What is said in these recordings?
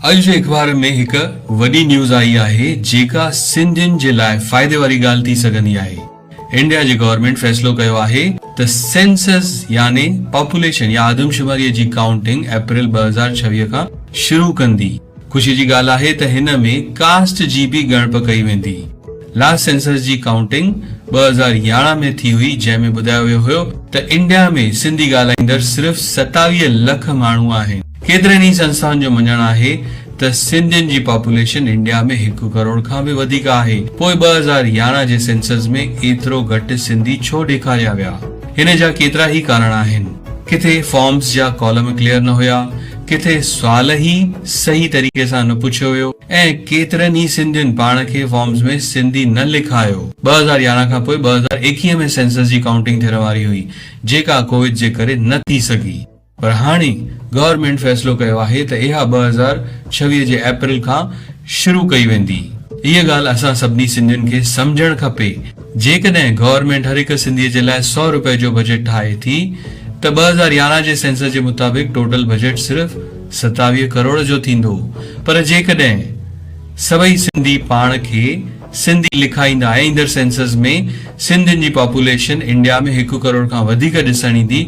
اڄ جي اخبارن ۾ هڪ وڏي نيوز آئي آهي جيڪا سنڌين جي لاء فائدي واري ڳالهه ٿي سگهندي آهي انڊيا جي گورنمينٽ فيصلو ڪيو آهي ته سينسز يعني پاپوليشن يا آدمشماري جي ڪائونٽنگ اپريل ٻه هزار ڇويهه کان شروع ڪندي خوشي جي ڳالهه آهي ته هن ۾ ڪاسٽ جي به ڳڻپ ڪئي ويندي لاسٽ سينسز جي ڪائونٽنگ ٻه هزار يارهن ۾ ٿي هئي جنهن ۾ ٻڌايو ويو هيو ته انڊيا ۾ سنڌي ڳالهائيندڙ صرف ستاويهه لک ماڻهو آهن. ڪيترين ئي سنسٿائن جو مڃڻ آهي ته سنڌين جي پاپوليشن انڊيا ۾ هڪ ڪروڙ کان به وڌيڪ آهي، پوء ٻه هزار يارهن جي سينسز ۾ ايترو گهٽ سنڌي ڇو ڏيکاريا ويا؟ ان جا ڪيترا ئي ڪارڻ آهن. ڪٿي فارمز جا ڪالم ڪليئر نه هيا، ڪٿي سوال ئي صحيح طريقي سان نه پڇيو ويو ۽ ڪيترن ئي سنڌين پاڻ کي فارمز ۾ سنڌي نه لکايو. ٻه هزار يارهن کان پوء ٻه هزار ايڪيهه ۾ سينسز جي ڪائونٽنگ ٿيڻ واري هئي، جيڪا ڪوويد جي ڪري نه ٿي سگهي. پر هاڻي گورنمينٽ فيصلو ڪيو آهي ته اها ٻه هزار ڇويهه جي اپريل کان شروع ڪئي ويندي. اها ڳالهه اسان سڀني سنڌين کي سمجهڻ کپي. جيڪڏهن گورنمينٽ هر هڪ سنڌي جي لاء سؤ روپيه جو بجيٽ ٺاهي ٿي ته ٻه هزار يارهن جي سينسس جي مطابق ٽوٽل بجيٽ صرف ستاويهه ڪروڙ جو ٿيندو پر جيڪڏهن سڀئي سنڌي پاڻ کي سنڌي لکائيندا ۽ ايندڙ سينسز ۾ سنڌين جي پاپوليشن انڊيا ۾ هڪ ڪروڙ کان وڌيڪ ڏسڻ ايندي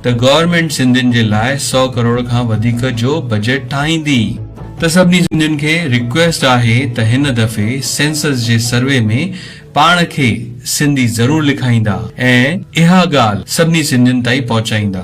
ته گورنمينٽ سنڌين جي لاء سؤ ڪروڙ کان وڌيڪ جو بجيٽ ٺاهيندي. ته سڀني سنڌين کي ريڪويسٽ آهي ته هن دفعي سينسز جي سروي ۾ پاڻ کي سنڌي ضرور لکائيندا ۽ اها ڳالهه سڀني سنڌين تائين پهچائيندا.